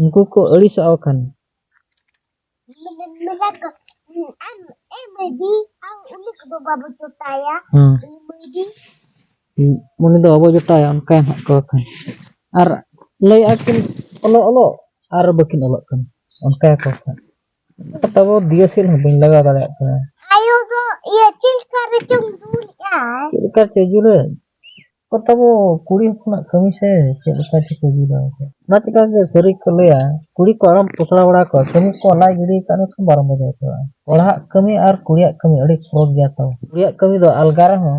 ᱩᱱᱠᱩ ᱠᱚ ᱟᱹᱲᱤᱥᱚᱜᱼᱟ ᱵᱟᱠᱷᱟᱱ ᱩᱱᱤ ᱫᱚ ᱵᱟᱵᱚ ᱡᱚᱴᱟᱭᱟ ᱚᱱᱠᱟᱭ ᱱᱟᱜ ᱠᱚ ᱵᱟᱠᱷᱟᱱ ᱟᱨ ᱞᱟᱹᱭᱮᱫᱼᱟ ᱠᱤᱱ ᱚᱞᱚᱜ ᱚᱞᱚᱜ ᱟᱨ ᱵᱟᱹᱠᱤᱱ ᱚᱞᱚᱜ ᱠᱟᱱᱟ ᱚᱱᱠᱟᱭᱟᱠᱚ ᱠᱷᱟᱱ ᱛᱟᱵᱚ ᱫᱤᱭᱮ ᱥᱮᱫ ᱦᱚᱸ ᱵᱟᱹᱧ ᱞᱟᱜᱟᱣ ᱫᱟᱲᱮᱭᱟᱜ ᱠᱟᱱᱟ ᱟᱭᱳ ᱫᱚ ᱤᱭᱟᱹ ᱪᱮᱫ ᱞᱮᱠᱟ ᱨᱮᱪᱚᱝ ᱫᱩᱞᱮᱜᱼᱟ ᱪᱮᱫ ᱞᱮᱠᱟ ᱪᱮᱫ ᱡᱩᱨᱟᱹ ᱠᱚ ᱛᱟᱵᱚ ᱠᱩᱲᱤ ᱦᱚᱯᱚᱱᱟᱜ ᱠᱟᱹᱢᱤ ᱥᱮ ᱪᱮᱫ ᱞᱮᱠᱟ ᱪᱤᱠᱟᱹ ᱜᱤᱰᱤ ᱩᱱᱠᱩ ᱚᱱᱟ ᱪᱤᱠᱟᱹ ᱜᱮ ᱥᱟᱹᱨᱤ ᱠᱚ ᱞᱟᱹᱭᱟ ᱠᱩᱲᱤ ᱠᱚ ᱟᱞᱚᱢ ᱯᱚᱥᱲᱟ ᱵᱟᱲᱟ ᱠᱚᱣᱟ ᱠᱟᱹᱢᱤ ᱠᱚ ᱞᱟᱡ ᱜᱤᱰᱤ ᱟᱠᱟᱫ ᱢᱮᱠᱷᱟᱱ ᱵᱟᱨᱚ ᱵᱟᱡᱟᱣ ᱩᱛᱟᱹᱨᱚᱜᱼᱟ ᱠᱚᱲᱟᱦᱟᱜ ᱠᱟᱹᱢᱤ ᱟᱨ ᱠᱩᱲᱤᱭᱟᱜ ᱠᱟᱹᱢᱤ ᱟᱹᱰᱤ ᱯᱷᱚᱨᱚᱠ ᱜᱮᱭᱟ ᱛᱚ ᱠᱩᱲᱤᱭᱟᱜ ᱠᱟᱹᱢᱤ ᱫᱚ ᱟᱞᱜᱟ ᱨᱮᱦᱚᱸ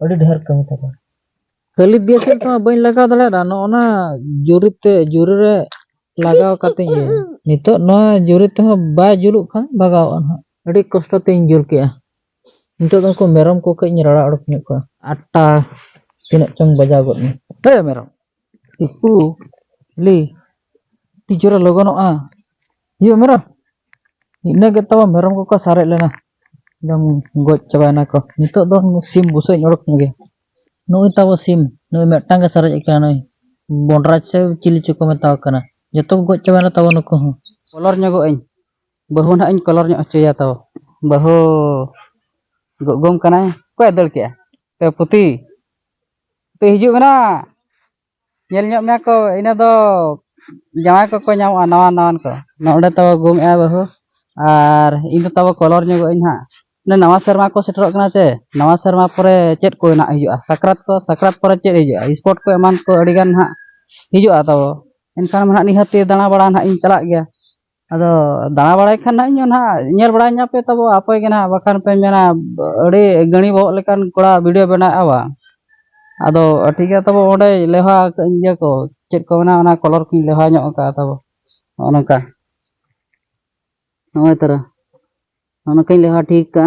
ᱟᱹᱰᱤ ᱰᱷᱮᱨ ᱠᱟᱹᱢᱤ ᱛᱟᱠᱚ ᱠᱷᱟᱹᱞᱤ ᱫᱤᱭᱟᱹᱥᱮᱞ ᱛᱮᱢᱟ ᱵᱟᱹᱧ ᱞᱟᱜᱟᱣ ᱫᱟᱲᱮᱭᱟᱜᱼᱟ ᱱᱚᱜᱼᱚᱱᱟ ᱡᱩᱨᱤ ᱛᱮ ᱡᱩᱨᱤ ᱨᱮ ᱞᱟᱜᱟᱣ ᱠᱟᱛᱮ ᱤᱭᱟᱹ ᱱᱤᱛᱚᱜ ᱱᱚᱣᱟ ᱡᱩᱨᱤ ᱛᱮᱦᱚᱸ ᱵᱟᱭ ᱡᱩᱞᱩᱜ ᱠᱷᱟᱱ ᱵᱷᱟᱜᱟᱣᱚᱜᱼᱟ ᱱᱟᱦᱟᱜ ᱟᱹᱰᱤ ᱠᱚᱥᱴᱚ ᱛᱤᱧ ᱡᱩᱞ ᱠᱮᱜᱼᱟ ᱱᱤᱛᱚᱜ ᱫᱚ ᱩᱱᱠᱩ ᱢᱮᱨᱚᱢ ᱠᱚ ᱠᱟᱹᱡ ᱤᱧ ᱨᱟᱲᱟ ᱚᱰᱚᱠ ᱧᱚᱜ ᱠᱚᱣᱟ ᱟᱴᱴᱟ ᱛᱤᱱᱟᱹᱜ ᱪᱚᱝ ᱵᱟᱡᱟᱣ ᱜᱚᱫ ᱮᱱᱟ ᱦᱮ ᱢᱮᱨᱚᱢ ᱛᱤᱠᱩ ᱞᱤ ᱟᱹᱰᱤ ᱡᱳᱨᱮ ᱞᱚᱜᱚᱱᱚᱜᱼᱟ ᱤᱭᱟᱹ ᱢᱮᱨᱚᱢ ᱤᱱᱟᱹ ᱜᱮ ᱛᱟᱵᱚ ᱢᱮᱨᱚᱢ ᱠᱚᱠᱚ ᱥᱟᱨᱮᱡ ᱞᱮᱱᱟ ᱮᱠᱫᱚᱢ ᱜᱚᱡ ᱪᱟᱵᱟᱭᱮᱱᱟ ᱠᱚ ᱱᱤᱛᱚᱜ ᱫᱚ ᱥᱤᱢ ᱵᱩᱥᱟᱹᱜ ᱤᱧ ᱚᱰᱚᱠ ᱧᱚᱜ ᱜᱮ ᱱᱩᱭ ᱛᱟᱵᱚ ᱥᱤᱢ ᱱᱩᱭ ᱢᱤᱫᱴᱟᱝ ᱜᱮ ᱥᱟᱨᱮᱡ ᱟᱠᱟᱱᱟ ᱱᱩᱭ ᱵᱚᱱᱰᱨᱟᱡᱽ ᱥᱮ ᱪᱤᱞᱤ ᱪᱚᱠᱚ ᱢᱮᱛᱟᱣ ᱠᱟᱱᱟ ᱡᱚᱛᱚ ᱠᱚ ᱜᱚᱡ ᱪᱟᱵᱟᱭᱮᱱᱟ ᱛᱟᱵᱚ ᱱᱩᱠᱩ ᱦᱚᱸ ᱵᱚᱞᱚᱨ ᱧᱚᱜᱚᱜ ᱟᱹᱧ ᱵᱟᱹᱦᱩ ᱱᱟᱦᱟᱜ ᱤᱧ ᱠᱚᱞᱚᱨ ᱧᱚᱜ ᱦᱚᱪᱚᱭᱟ ᱛᱚ ᱵᱟᱹᱦᱩ ᱜᱚᱜᱚᱢ ᱠᱟᱱᱟᱭ ᱚᱠᱚᱭ ᱫᱟᱹᱲ ᱠᱮᱜᱼᱟ ᱮ ᱯᱩᱛᱤ ᱯᱩᱛᱤ ᱦᱤᱡᱩᱜ ᱢᱮ ᱱᱟᱦᱟᱜ ᱧᱮᱞ ᱧᱚᱜ ᱢᱮᱭᱟ ᱠᱚ ᱤᱱᱟᱹ ᱫᱚ ᱡᱟᱶᱟᱭ ᱠᱚᱠᱚ ᱧᱟᱢᱚᱜᱼᱟ ᱱᱟᱣᱟ ᱱᱟᱣᱟᱱ ᱠᱚ ᱱᱚᱰᱮ ᱛᱟᱵᱚ ᱜᱚᱢ ᱮᱜᱼᱟ ᱵᱟᱹᱦᱩ ᱟᱨ ᱤᱧ ᱫᱚ ᱛᱟᱵᱚ ᱠᱚᱞᱚᱨ ᱧᱚᱜᱚᱜ ᱟᱹᱧ ᱦᱟᱸᱜ ᱚᱱᱮ ᱱᱟᱣᱟ ᱥᱮᱨᱢᱟ ᱠᱚ ᱥᱮᱴᱮᱨᱚᱜ ᱠᱟᱱᱟ ᱪᱮ ᱱᱟᱣᱟ ᱥᱮᱨᱢᱟ ᱯᱚᱨᱮ ᱪᱮᱫ ᱠᱚ ᱱᱟᱦᱟᱜ ᱦᱤᱡᱩᱜᱼᱟ ᱥᱟᱠᱨᱟᱛ ᱠᱚ ᱥᱟᱠᱨᱟᱛ ᱯᱚᱨᱮ ᱪᱮᱫ ᱦᱤᱡᱩᱜᱼᱟ ᱥᱯᱳᱨᱴ ᱠᱚ ᱮᱢᱟᱱ ᱠᱚ ᱟᱹᱰᱤᱜᱟᱱ ᱱᱟᱦᱟᱜ ᱦᱤᱡᱩᱜᱼᱟ ᱛᱟᱵᱚ ᱮᱱᱠᱷᱟᱱ ᱱᱟᱦᱟᱜ ᱱᱤᱦᱟᱹᱛᱤ ᱫᱟᱬᱟᱵᱟᱲᱟ ᱱᱟᱦᱟᱜ ᱤᱧ ᱪᱟᱞᱟᱜ ᱜᱮᱭᱟ ᱟᱫᱚ ᱫᱟᱬᱟ ᱵᱟᱲᱟᱭ ᱠᱷᱟᱱ ᱱᱟᱦᱟᱜ ᱤᱧ ᱦᱚᱸ ᱱᱟᱦᱟᱜ ᱧᱮᱞ ᱵᱟᱲᱟ ᱧᱟᱯᱮ ᱛᱟᱵᱚ ᱟᱯᱮ ᱜᱮ ᱱᱟᱦᱟᱜ ᱵᱟᱠᱷᱟᱱ ᱯᱮ ᱢᱮᱱᱟ ᱟᱹᱰᱤ ᱜᱟᱹᱬᱤ ᱵᱚᱦᱚᱜ ᱞᱮᱠᱟᱱ ᱠᱚᱲᱟ ᱵᱷᱤᱰᱤᱭᱳ ᱵᱮᱱᱟᱣᱮᱫᱼᱟ ᱵᱟ ᱟᱫᱚ ᱴᱷᱤᱠ ᱜᱮᱭᱟ ᱛᱟᱵᱚ ᱚᱸᱰᱮ ᱞᱮᱣᱦᱟ ᱟᱠᱟᱫ ᱟᱹᱧ ᱤᱭᱟᱹ ᱠᱚ ᱪᱮᱫ ᱠᱚ ᱢᱮᱱᱟ ᱚᱱᱟ ᱠᱚᱞᱚᱨ ᱠᱚᱧ ᱞᱮᱣᱦᱟ ᱧᱚᱜ ᱟᱠᱟᱫᱼᱟ ᱛᱟᱵᱚ ᱱᱚᱜᱼᱚ ᱱᱚᱝᱠᱟ ᱱᱚᱜᱼᱚᱭ ᱛᱚᱨᱟ ᱱᱚᱜᱼᱚ ᱱᱚᱝᱠᱟᱧ ᱞᱮᱣᱦᱟ ᱴᱷᱤᱠ ᱠᱟᱜᱼᱟ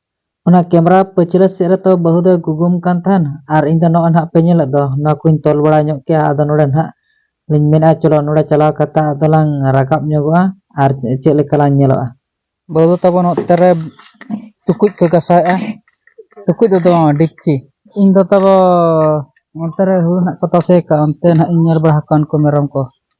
ᱚᱱᱟ ᱠᱮᱢᱨᱟ ᱯᱟᱹᱪᱷᱞᱟᱹ ᱥᱮᱫ ᱨᱮ ᱛᱚ ᱵᱟᱹᱦᱩ ᱫᱚᱭ ᱜᱩᱜᱩᱢ ᱠᱟᱱ ᱛᱟᱦᱮᱱ ᱟᱨ ᱤᱧ ᱫᱚ ᱱᱚᱜᱼᱚᱭ ᱱᱟᱦᱟᱜ ᱯᱮ ᱧᱮᱞᱮᱫ ᱫᱚ ᱱᱚᱣᱟ ᱠᱚᱧ ᱛᱚᱞ ᱵᱟᱲᱟ ᱧᱚᱜ ᱠᱮᱜᱼᱟ ᱟᱫᱚ ᱱᱚᱰᱮ ᱱᱟᱦᱟᱜ ᱞᱤᱧ ᱢᱮᱱᱮᱫᱼᱟ ᱪᱚᱞᱚ ᱱᱚᱰᱮ ᱪᱟᱞᱟᱣ ᱠᱟᱛᱮ ᱟᱫᱚ ᱞᱟᱝ ᱨᱟᱠᱟᱵ ᱧᱚᱜᱚᱜᱼᱟ ᱟᱨ ᱪᱮᱫ ᱞᱮᱠᱟ ᱞᱟᱝ ᱧᱮᱞᱚᱜᱼᱟ᱾ ᱵᱟᱹᱦᱩ ᱫᱚ ᱛᱟᱵᱚᱱ ᱚᱛᱮ ᱨᱮ ᱴᱩᱠᱩᱡ ᱠᱚ ᱜᱟᱥᱟᱣᱮᱜᱼᱟ ᱴᱩᱠᱩᱡ ᱫᱚ ᱫᱚ ᱰᱮᱠᱪᱤ᱾ ᱤᱧ ᱫᱚ ᱛᱟᱵᱚ ᱚᱱᱛᱮ ᱨᱮ ᱦᱩᱲᱩ ᱱᱟᱦᱟᱜ ᱠᱚ ᱛᱟᱥᱮ ᱟᱠᱟᱫ ᱚᱱᱛᱮ ᱱᱟᱦᱟᱜ ᱤᱧ ᱧᱮᱞ ᱵᱟᱲᱟ ᱟᱠᱟᱫ ᱠᱚᱣᱟ ᱩᱱᱠᱩ ᱢᱮᱨᱚᱢ ᱠᱚ᱾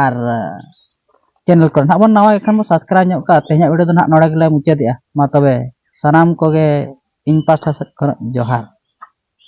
ᱟᱨ ᱪᱮᱱᱮᱞ ᱠᱚᱨᱮ ᱱᱟᱦᱟᱜ ᱵᱚᱱ ᱱᱟᱣᱟ ᱜᱮᱠᱷᱟᱱ ᱵᱚᱱ ᱥᱟᱵᱥᱠᱨᱟᱭᱤᱵᱽ ᱧᱚᱜ ᱠᱟᱜᱼᱟ ᱛᱮᱦᱮᱧᱟᱜ ᱵᱷᱤᱰᱤᱭᱳ ᱫᱚ ᱱᱟᱦᱟᱜ ᱱᱚᱰᱮ ᱜᱮᱞᱮ ᱢᱩᱪᱟᱹᱫᱮᱜᱼᱟ ᱢᱟ ᱛᱚᱵᱮ ᱥᱟᱱᱟᱢ ᱠᱚᱜᱮ ᱤᱧ ᱯᱟᱥᱴᱟ ᱥᱮᱫ ᱠᱷᱚᱱᱟᱜ ᱡᱚᱦᱟᱨ